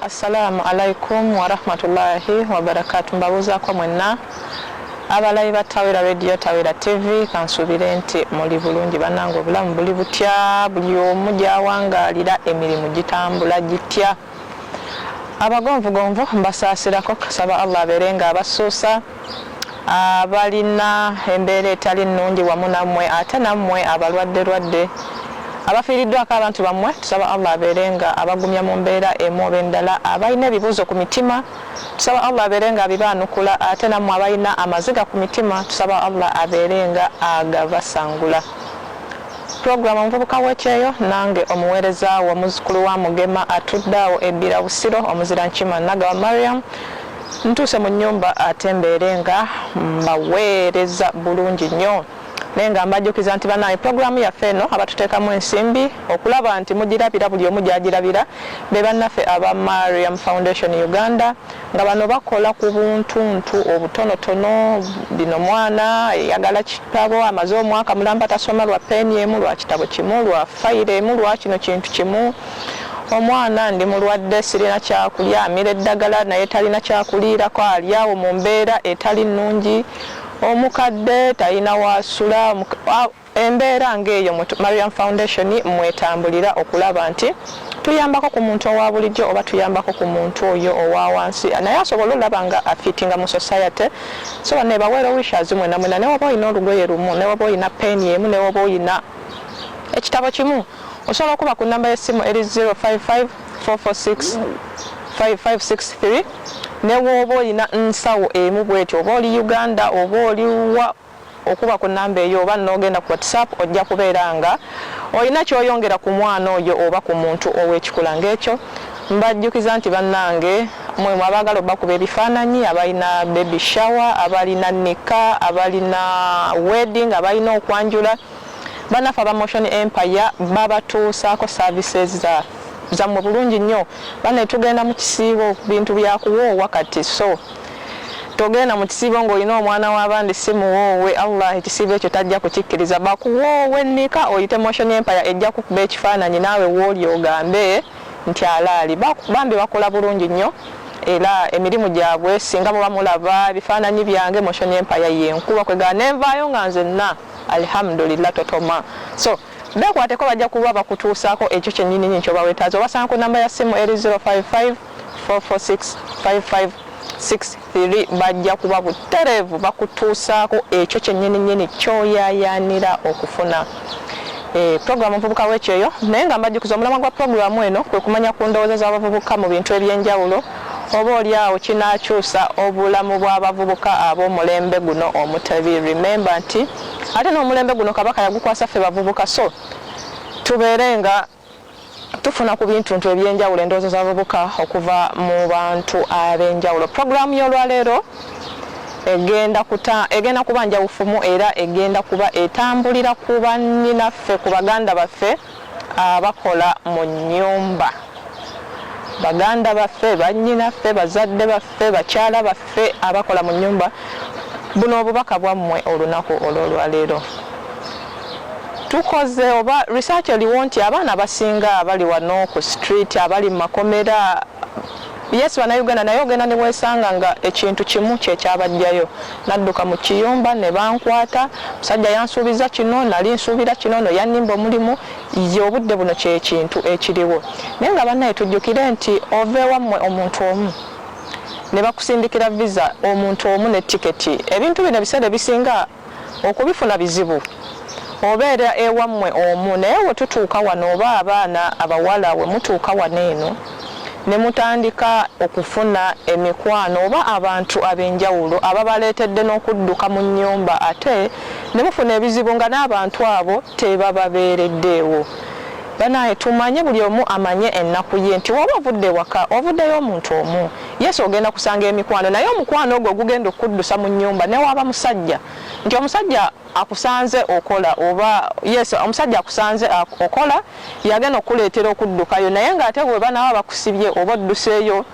Assalamu alaikum warahmatullahi wabarakatu. Mbabuuzaako mwenna abalayi ba Tawera Radio, Tawera TV, kansuubire nti muli bulungi bannange, obulamu buli butya? Buli omu gyawangaalira emirimu gitambula gitya? Abagonvugonvu mbasaasira ko kusaba Allah abeere nga abassuusa abalina embeera etali nnungi wamu nammwe ate nammwe abalwaddelwadde abafiiriddwako abantu bammwe tusaba Allah abeere nga abagumya mu mbeera emu oba endala abalina ebibuuzo ku mitima tusaba Allah abeere nga abibaanukula ate nammwe abalina amaziga ku mitima tusaba Allah abeere nga agabasangula Program Omuvubuka w'ekyeyo nange omuweereza wo muzzukulu wa Mugema atudde awo e Bbira Busiro omuzira Nkima Nagawa Mariam ntuuse mu nnyumba ate mbeere nga mbaweereza bulungi nnyo naye nga mbajjukiza nti banaye program yaffe eno abatuteekamu ensimbi okulaba nti mugirabira buli omu gy'agirabira be bannaffe aba Mariam Foundation Uganda Nga bano bakola ku buntuntu obutonotono, bino mwana ayagala kitabo amaze omwaka mulamba tasoma lwa peeni emu, lwa kitabo kimu, lwa fayiro emu, lwa kino kintu kimu. Omwana ndi mulwadde sirina kyakulya, amira eddagala naye talina kyakuliirako, ali awo mu mbeera etali nnungi. Omukadde talina w'asula. Embeera ng'eyo mu Mariam Foundation mw'etambulira okulaba nti tuyambako ku muntu owa bulijjo oba tuyambako ku muntu oyo owa wansi naye asobole olaba nga afiitinga mu society so bano ebawa era wishes mwena mwena ne waba olina olugoye lumu ne waba olina peeni emu ne waba olina ekitabo kimu osobola okuba ku namba y'essimu eri 055 446 5563 ne wooba olina nsawo emu bwetyo oba oli uganda oba oliwa okuba ku namba eyo oba nogenda ku WhatsApp ojja kubeera nga olina kyoyongera ku mwana oyo oba ku muntu owekikula ngekyo. Mbajjukiza nti bannange mwe abaagala obakuba ebifaananyi, abalina baby shower, abalina nikah, abalina wedding, abalina okwanjula, bannaffe aba Motion Empire babatuusaako services za zammwe bulungi nnyo. Bane tugenda mu kisiibo bintu bya kuwoowa kati so. Togenda mu kisiibo ng'olina omwana w'abandi si muwoowe, Allah ekisiibo ekyo tajja kukikkiriza. Bakuwoowe nika oyite Motion Empire ejja kukuba ekifaananyi naawe wooli ogambe nti alaali. Ba, bambi bakola bulungi nnyo era emirimu gyabwe singa muba mulaba ebifaananyi byange, Motion Empire y'enkulu okwegana ne nvaayo nga nzenna Alhamdulillah totoma. So, beekwateko bajja kuba bakutuusaako ekyo kyennyininyini ky'oba weetaaze. Obasanga ku nnamba ya ssimu eri zero five five. 4465563 bajja kuba butereevu bakutuusaako ekyo kyennyininyini ky'oyaayaanira okufuna. E, pulogulaamu omuvubuka w'ekyeyo naye nga mbajjukiza omulamwa gwa pulogulaamu eno kwe kumanya ku ndowooza z'abavubuka mu bintu eby'enjawulo oba oli awo kinaakyusa obulamu bw'abavubuka ab'omulembe guno omutebi remember nti ate n'omulembe guno kabaka yagukwasa ffe bavubuka so tubeere nga Tufuna ku bintuntu eby'enjawulo endowooza z'abavubuka okuva mu bantu ab'enjawulo. Pulogulaamu y'olwaleero egenda kuta, egenda kuba njawufumu era egenda kuba etambulira ku bannyinaffe, ku baganda baffe abakola mu nnyumba. Baganda baffe, bannyinaffe, bazadde baffe, bakyala baffe abakola mu nnyumba, buno obubaka bwammwe olunaku olw'olwaleero. Tukoze oba research eliwo nti abaana abasinga abali wano ku street abali mumakomera yes banauganda naye ogenda newesanga nga ekintu kimu kyekyabajjayo nadduka mukiyumba nebankwata musajja yansuubiza kino nali nsuubira kino no yanimba omulimu ye obudde buno kyekintu ekiliwo naye nga banaye tujjukire nti ova ewamwe omuntu omu nebakusindikira visa omuntu omu ne ticket ebintu bino ebiseera ebisinga Okubifuna bizibu. Obeera ewammwe omu naye we tutuuka wano oba abaana abawala we mutuuka wano eno ne mutandika okufuna emikwano oba abantu ab'enjawulo ababaleetedde n'okudduka mu nnyumba ate ne mufuna ebizibu nga n'abantu abo tebababeereddeewo. Banaye tumanye buli omu amanye ennaku ye nti woba ovudde ewaka ovuddeyo omuntu omu. Yes ogenda kusanga emikwano naye omukwano ogwo gugenda okukuddusa mu nnyumba newaaba musajja nti omusajja akusanze okola oba yes omusajja akusanze okola yagenda okukuleetera okuddukayo naye ng'ate bwe banaaba bakusibye oba odduseeyo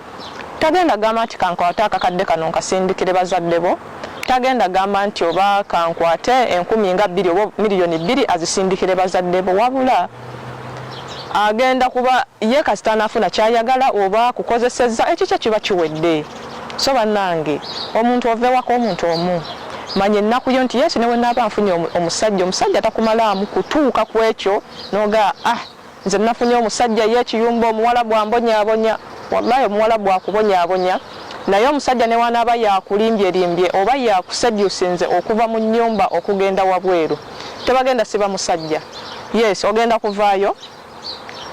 tagenda gamba nti kankwate akakadde kano nkasindikire bazadde bo tagenda gamba nti oba kankwate enkumi nga bbiri oba miliyoni bbiri azisindikire bazadde bo wabula agenda kuba ye kasita anafuna kyayagala oba akukozesezza ekikye kiba kiwedde so banange omuntu ova ewaka omuntu omu manya ennaku yo nti yesu newenaaba nfunye omusajja omusajja takumalaamu kutuuka ku ekyo noga ah nze nafunye omusajja ye ekiyumba omuwala bwambonyabonya wallahi omuwala bwakubonyabonya naye omusajja newanaaba yakulimbyelimbye oba yakusedusinze okuva mu nyumba okugenda wabweru Tebagenda siba musajja. Yes ogenda kuvaayo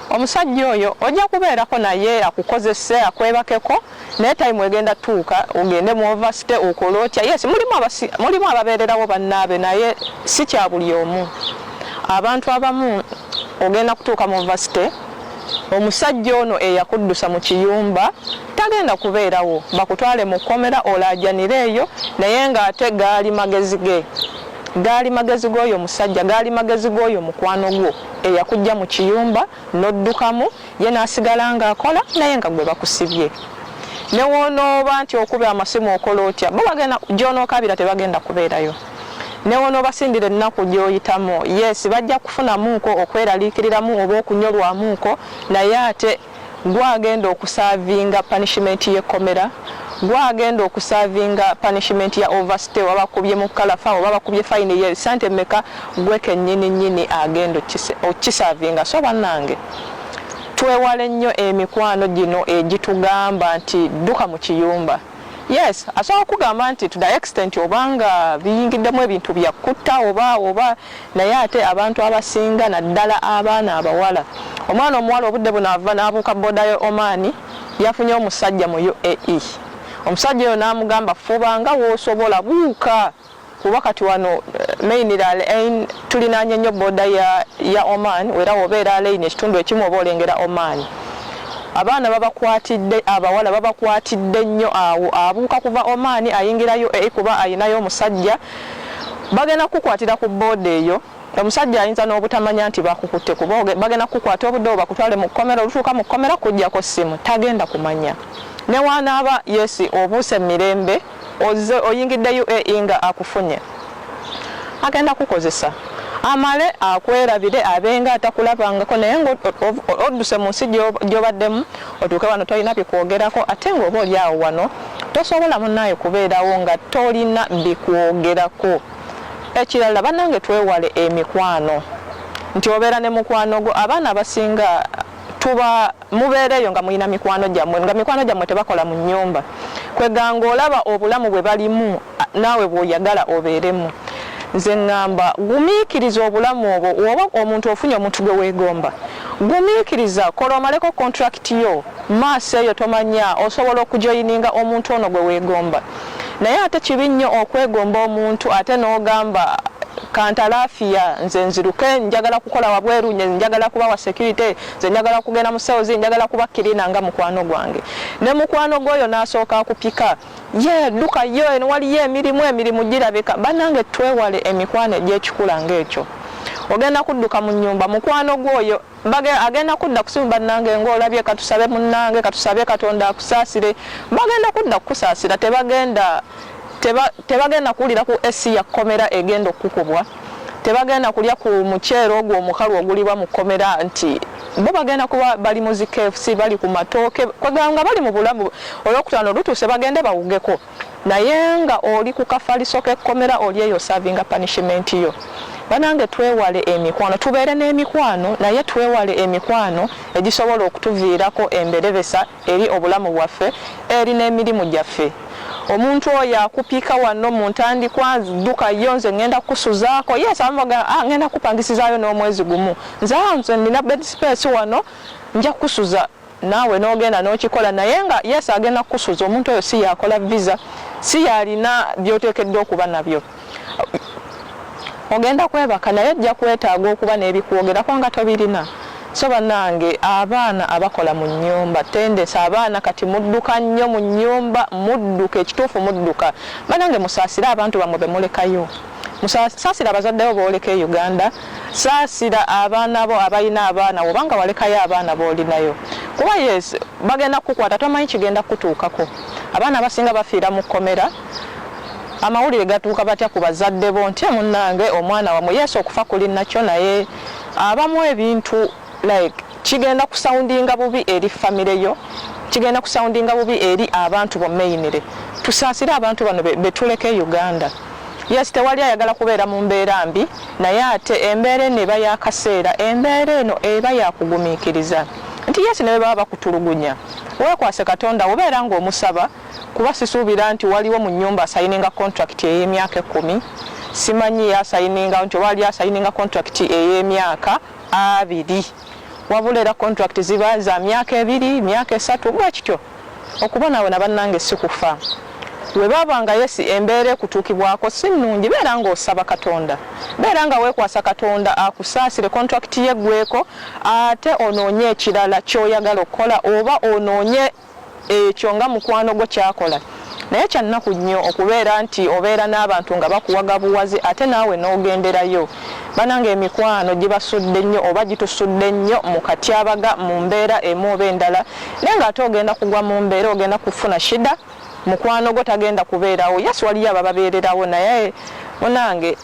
omusajja oyo ojja kubeerako naye akukozese akwebakeko naye time egenda tuuka ogende mu overstay okole otya yes mulimu abasi, mulimu ababeererawo bannaabe naye si kya buli omu abantu abamu ogenda kutuuka mu overstay omusajja ono eyakuddusa mu kiyumba tagenda kubeerawo bakutwale mu kkomera olaajanire eyo naye ng'ate gaali magezi ge Gaali magezi g'oyo musajja, gaali magezi g'oyo mukwano gwo eyakuggya mu kiyumba n'oddukamu, ye n'asigala ng'akola naye nga gwe bakusibye. Ne w'onooba nti okubye amasimu okola otya, bo bagenda, gy'onookabira tebagenda kubeerayo. Ne w'onoobasindira ennaku gy'oyitamu, yes, bajja kufunamuuko okweraliikiriramu oba okunyolwamuuko, naye ate gwagenda okusaavinga punishment y'ekkomera, gwagenda okusaavinga punishment ya overstay oba bakubye mu kalafa oba bakubye fine ye sente meka gwe kenyini nyini agenda okukisaavinga so banange twewale nnyo emikwano gino egitugamba nti dduka mu kiyumba. Yes, asobola kugamba nti to the extent obanga biyingiddemu ebintu bya kutta oba oba naye ate abantu abasinga naddala abaana abawala. Omwana omuwala obudde buno ava n'abuuka booda y'e Oman yafunye omusajja mu UAE. Omusajja oyo n'amugamba fuba nga w'osobola buuka Kuba kati wano main lalein tulinaanye nnyo boda ya ya Oman wera woba elalein ekitundu ekimu oba olengera Oman. Abaana babakwatidde abawala babakwatidde nnyo awo abuuka kuva Oman ayingira UAE kuba ayinayo omusajja bagenda kukukwatira ku boda eyo omusajja ayinza nobutamanya nti bakukutte kuba bagenda kukukwata obudde obo bakutwale mu kkomera olutuuka mu kkomera kujjako ssimu tagenda kumanya newanaaba yes obuuse mu mirembe Ozze oyingidde UAE nga akufunye agenda kukozesa amale akwerabire abenga atakulabangako naye nga odduse mu nsi gyobaddemu otuuke wano tolina bikwogerako ate nga oba oli awo wano tosobola munaaye kubeerawo nga tolina bikwogerako ekirala banange twewale emikwano nti obeera ne mukwano gwo abaana abasinga tuba Mubeera eyo nga mulina mikwano gyammwe nga mikwano gyammwe tebakola mu nnyumba kweganga olaba obulamu bwe balimu naawe bw'oyagala obeeremu. Nze ngamba gumiikiriza obulamu obwo woba omuntu ofunye omuntu gwe weegomba gumiikiriza kola omaleko contract yo maaso eyo tomanya osobola okujoyininga omuntu ono gwe weegomba naye ate kibi nnyo okwegomba omuntu ate n'ogamba kantalafiya nze nziruke njagala kukola wabweru njagala kubawa security nze njagala kugenda mu cells njagala kuba kirina nga mukwano gwange ne mukwano gwoyo nasooka akupika ye duka yo eno waliyo emirimu emirimu girabika banange twewale emikwano egyekikula ngaekyo ogenda kudduka mu nyumba mukwano gwoyo agenda kudda kusimu banange ngaolabye katusabe munange katusabe katonda akusaasire bagenda kudda kukusaasira tebagenda tebagenda kuwulira ku esi yakkomera egenda okukubwa tebagenda kulya ku muceere ogwo omukalu ogulibwa mu kkomera nti bo bagenda kuba bali mu zi KFC bali ku matooke kwegamba nga bali mu bulamu olwokutaano lutuuse bagende bawugeko naye nga oli ku kafaliso k'ekkomera oli eyo savinga punishment yo banange twewale emikwano tubeere n'emikwano naye twewale emikwano egisobola okutuviirako emberebesa eri obulamu bwaffe eri n'emirimu gyaffe. Omuntu oyo akupika wano mu ntandikwa, dduka yo nze ngenda kukusuzaako, yes abamu bagamba ah ngenda kukupangisizaayo n'omwezi gumu, nze ah nze nina bed space wano nja kukusuza naawe n'ogenda n'okikola naye nga yes agenda kukusuza omuntu oyo si y'akola visa, si y'alina by'oteekeddwa okuba nabyo. ogenda kwebaka naye ojja kwetaaga okuba n'ebikwogerako nga tobirina so banange abaana abakola mu nyumba tendesa abaana kati mudduka nnyo mu nyumba mudduka ekituufu mudduka banange musaasire abantu bamwe bemulekayo saasira abazaddewo booleka e uganda saasira abaana bo abalina abaana wobanga walekayo abaana boolinayo kuba yes bagenda kukukwata tomanyi kigenda kukutuukako abaana abasinga bafiira mu kkomera Amawulire gatuuka batya ku bazadde bo ntye munange omwana wamwe yes okufa kuli nakyo naye abamu ebintu like kigenda ku soundinga bubi eri family yo kigenda ku soundinga bubi eri abantu bo mainly tusaasire abantu bano betuleka e Uganda yes tewali ayagala kubeera mu mbeera mbi naye ate embeera eno eba yakaseera embeera eno eba yakugumikiriza nti yes nebebaba bakutulugunya wekwase katonda obeera nga omusaba Kuba sisuubira nti waliwo mu nnyumba asayininga kontulakiti ey'emyaka ekkumi. Simanyi y'asayiningawo nti oba waliyo asayininga kontulakiti ey'emyaka abiri. Wabula era kontulakiti ziba za myaka ebiri, myaka esatu bwe kityo. Okubonaabona bannange si kufa. Bwe baba nga yes embeera ekutuukibwako si nnungi, beera ng'osaba Katonda. Beera nga weekwasa Katonda akusaasire kontulakiti yo eggweeko ate onoonye ekirala ky'oyagala okukola oba onoonye. Ekyo nga mukwano gwo ky'akola. Naye kya nnaku nnyo okubeera nti obeera n'abantu nga bakuwaga buwaze ate naawe n'ogenderayo. Bannange emikwano gibasudde nnyo oba gitusudde nnyo mu katyabaga mu mbeera emu oba endala naye ng'ate ogenda kugwa mu mbeera ogenda kufuna shida mukwano gwo tagenda kubeerawo. Yes waliyo abababeererawo naye munnange.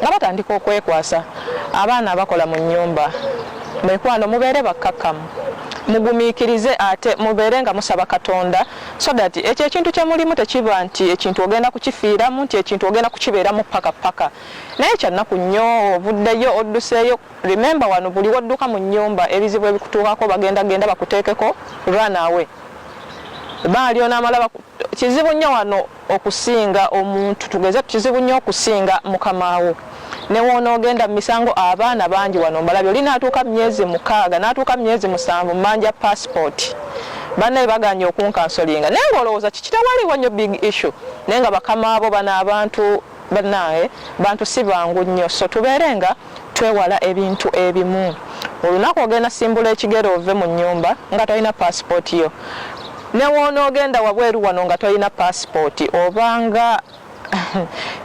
nga batandika okwekwasa abaana abakola mu nnyumba. Mikwano mubeere bakkakkamu, mugumiikirize ate mubeere nga musaba Katonda so that ekyo ekintu kye mulimu tekiba nti ekintu ogenda kukifiiramu nti ekintu ogenda kukibeeramu ppaka ppaka. Naye kya nnaku nnyo ovuddeyo odduseeyo remember wano buli wodduka mu nnyumba ebizibu ebikutuukako bagenda genda bakuteekeko run away. Ebbanga ly'onaamala baku kizibu nnyo wano. okusinga omuntu tugeze kizibu nnyo okusinga mukama wo ne woonoogenda mu misango abaana bangi wano mbalabye oli n'atuuka mu myezi mukaaga n'atuuka mu myezi musanvu mmanja paasipooti bannaye baganye okunkansolinga naye ng'olowooza kikitawaliwo nnyo big issue naye nga bakama bo bano abantu bannaye bantu si bangu nnyo so tubeere nga twewala ebintu ebimu. Olunaku ogenda simbula ekigere ove mu nnyumba nga tolina paasipooti yo. Ne w'onoogenda wabweru wano nga tolina paasipooti oba nga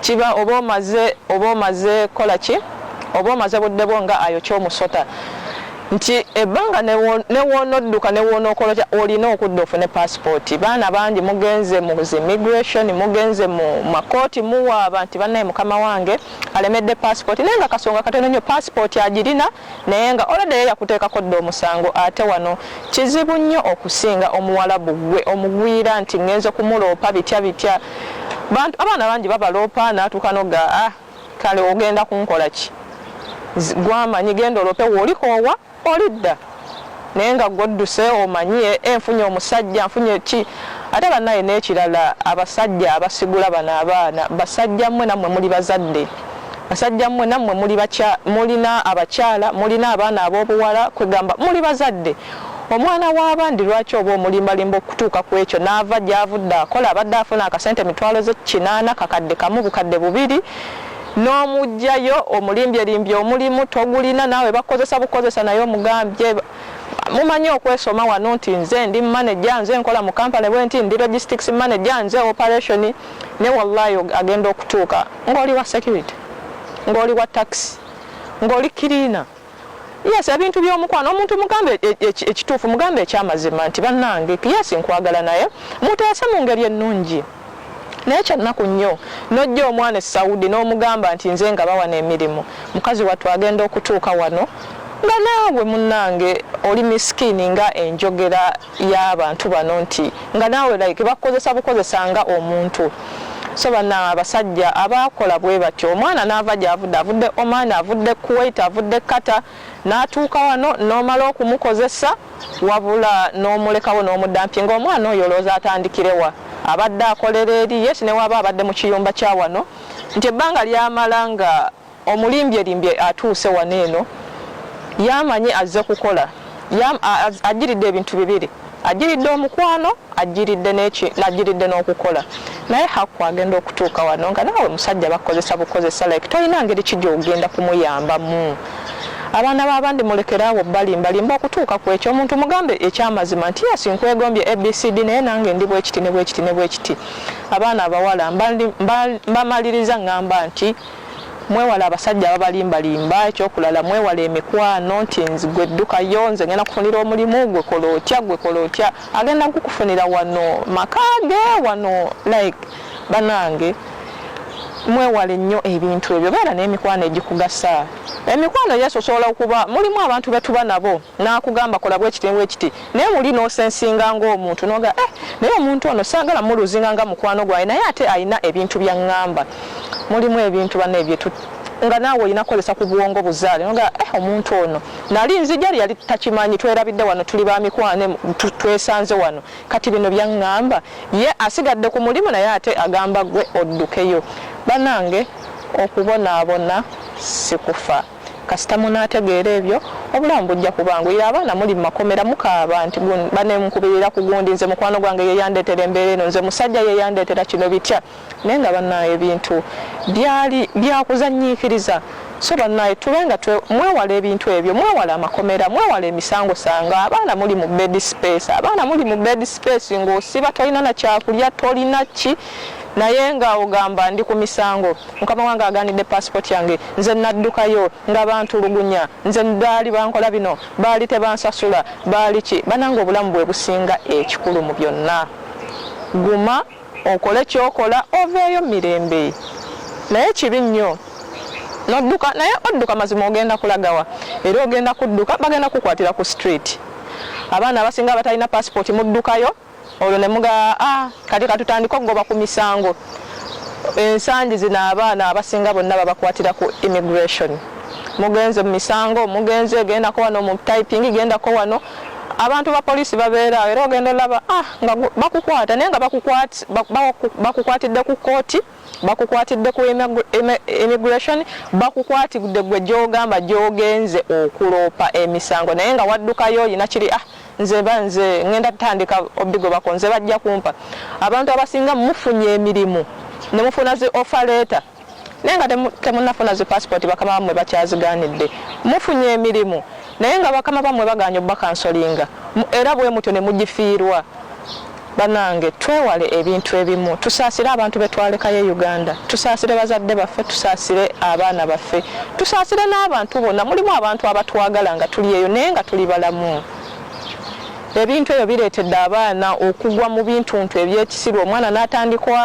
kiba oba omaze oba omaze kukola ki oba omaze budde bwo nga ayokya omusota nti ebbanga ne w'onodduka ne w'onookolokya olina okudda ofune paasipooti. Baana bangi mugenze mu zi migration, mugenze mu makooti muwaaba nti bannaye mukama wange. alemedde passport naye nga kasonga katono nyo passport agirina naye nga olade ye yakuteekako dda omusango ate wano kizibu nnyo okusinga omuwalabu gwe omugwira nti ngenze kumuloopa bitya bitya bantu abaana bangi babaloopa natuuka noga ah kale ogenda kunkola ki gwamanyi genda olope wolikoowa Olidda naye nga gwodduse omanyi e, e, nfunye omusajja nfunye ki ate banaye nekirala abasajja abasigula bano abaana basajja mwe namwe muli bazadde basajja mwe namwe mulina abakyala mulina abaana abobuwala kwegamba muli bazadde omwana wabandi lwaki oba omulimbalimba okutuuka ku ekyo naava gyavudde akola abadde afuna akasente mitwalo ze kinaana kakadde kamu bukadde bubiri Nomujjayo omulimbye limbye omulimu togulina naawe bakukozesa bukozesa naye omugambye mumanyi okwesoma wano nti nze ndi manager nze nkola mu company bwenti ndi logistics manager nze operation naye wallahi agenda okutuuka ngoli wa security ngoli wa taxi ngoli cleaner Yes ebintu byomukwano omuntu mugambe e, e, e, ekituufu mugambe ekyamazima nti banange yes nkwagala naye muteese mungeri ennungi naye kyannaku nnyo nojja omwana e saudi nomugamba nti nze nga bawana emirimu mukazi wattu agenda okutuuka wano nga naawe munange oli miskini nga enjogera ya bantu bano nti nga naawe like bakukozesa bukozesa nga omuntu so bana abasajja abaakola bwebatyo omwana naava gyavudde avudde Oman avudde Kuwait avudde Qatar natuuka wano nomala okumukozesa wabula nomulekawo nomudampye nga omwana oyo olowooza atandikirewa abadde akolera eri yes newaba abadde mukiyumba kyawano nti ebbanga lyamala nga Omulimbyelimbye atuuse wano eno y'amanyi azze kukola. Y'am, a, a, ajjiridde ebintu bibiri. Ajjiridde omukwano, ajjiridde n'eki, ajjiridde n'okukola. Naye Haku agenda okutuuka wano nga naawe musajja bakukozesa bukozesa like tolina ngeri ki gy'ogenda kumuyambamu. Abaana b'abandi mulekere awo obbaliimbalimba okutuuka ku ekyo. Omuntu mugambe eky'amazima nti, Yes, nkwegombye ABCD naye nange ndi bwekiti ne bwekiti ne bwekiti. Abaana abawala mba, mba, mbamaliriza ngamba nti. Mwewale abasajja ababalimba limba ekyokulala mwewale emikwano nti gwe ddukayo nze ngenda kufunira omulimu gwe kola otya gwe kola otya agenda kukufunira wano maka ge wano like banange mwewale nnyo ebintu ebyo beera n'emikwano egikugasa emikwano yes osobola okuba mulimu abantu betuba nabo N'akugamba kola bwekiti ne bwekiti naye muli n'osensinga ng'omuntu n'ogamba eh naye omuntu ono saagala muluuzinga nga mukwano gwange naye ate alina ebintu by'angamba. Mulimu ebintu bannange bye tu nga naawe olina kukozesa ku bwongo buzaale n'ogamba eh omuntu ono nali nzija lye yali takimanyi twerabidde wano tuli ba mikwano twesanze wano kati bino by'angamba. Ye asigadde ku mulimu naye ate agamba ggwe oddukeyo. Bannange okubonaabona si kufa. Kasita munaategeera ebyo, obulamu bujja kubanguyira. Abaana muli mu makomera mukaaba nti gun, banne munkubirira ku gundi, nze mukwano gwange ye yandeetera embeera eno, nze musajja ye yandeetera kino, bitya. Naye nga bannaaye ebintu byali bya kuzannyiikiriza. So bannaaye tube nga twe, mwewale ebintu ebyo, mwewale amakomera, mwewale emisango sango. Abaana muli mu bed space, abaana muli mu bed space ng'osiba tolina na kyakulya, tolina ki. Naye nga ogamba ndi ku misango. Mukama wange aganidde passport yange nze naddukayo nga bantulugunya nze baali bankola bino baali tebansasula baali ki banange obulamu bwebusinga ekikulu mu byonna guma okole kyokola oveeyo mirembe naye kibi nnyo nodduka naye odduka mazima ogenda kulagawa era ogenda kudduka bagenda kukwatira ku street abaana abasinga abatalina passport muddukayo olwo ne mugamba ah, kati katutandike okugoba ku misango ensangi zino abaana abasinga bonna babakwatira ku immigration mugenze mu misango mugenze gendako wano mu typing gendako wano abantu ba poliisi babeeraawo era ogenda olaba ah, nga bakukwata naye nga bakukwatidde ku kkooti Bakukwatidde ku immigration bakukwatidde gwe gyogamba gyogenze okuloopa emisango naye nga waddukayo olina kiri ah nze ba nze ngenda tandika obigobako nze bajja kumpa abantu abasinga mufunye emirimu ne mufuna zi offer letter naye nga temunafuna zi passport bakama bamwe bakyaziganidde mufunye emirimu naye nga bakama bamwe baganye obakansolinga era bwemutyo ne mugifiirwa Banange twewale ebintu ebimu tusaasire abantu betwalekayo e Uganda tusaasire bazadde baffe tusaasire abaana baffe tusaasire n'abantu bona mulimu abantu abatwagala nga tuli eyo naye nga tuli balamu ebintu ebyo bireetedde abaana okugwa mu bintuntu ebyekisiru omwana natandikwa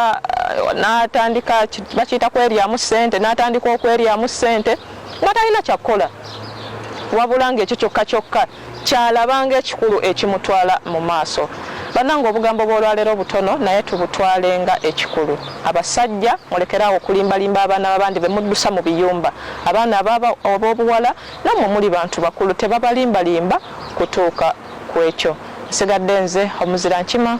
natandika bakiyita kweryamu ssente natandika okweryamu ssente nga talina kyakkola wabula ng'ekyo kyokka kyokka kyalaba nga ekikulu ekimutwala mu maaso. Banange obugambo bwolwalero butono naye tubutwale nga ekikulu. Abasajja mulekere awo okulimba limba abaana babandi bemuddusa mu biyumba. Abaana abobuwala namwe muli bantu bakulu tebabalimba limba kutuuka kwekyo. Nsigadde nze omuzira nkima.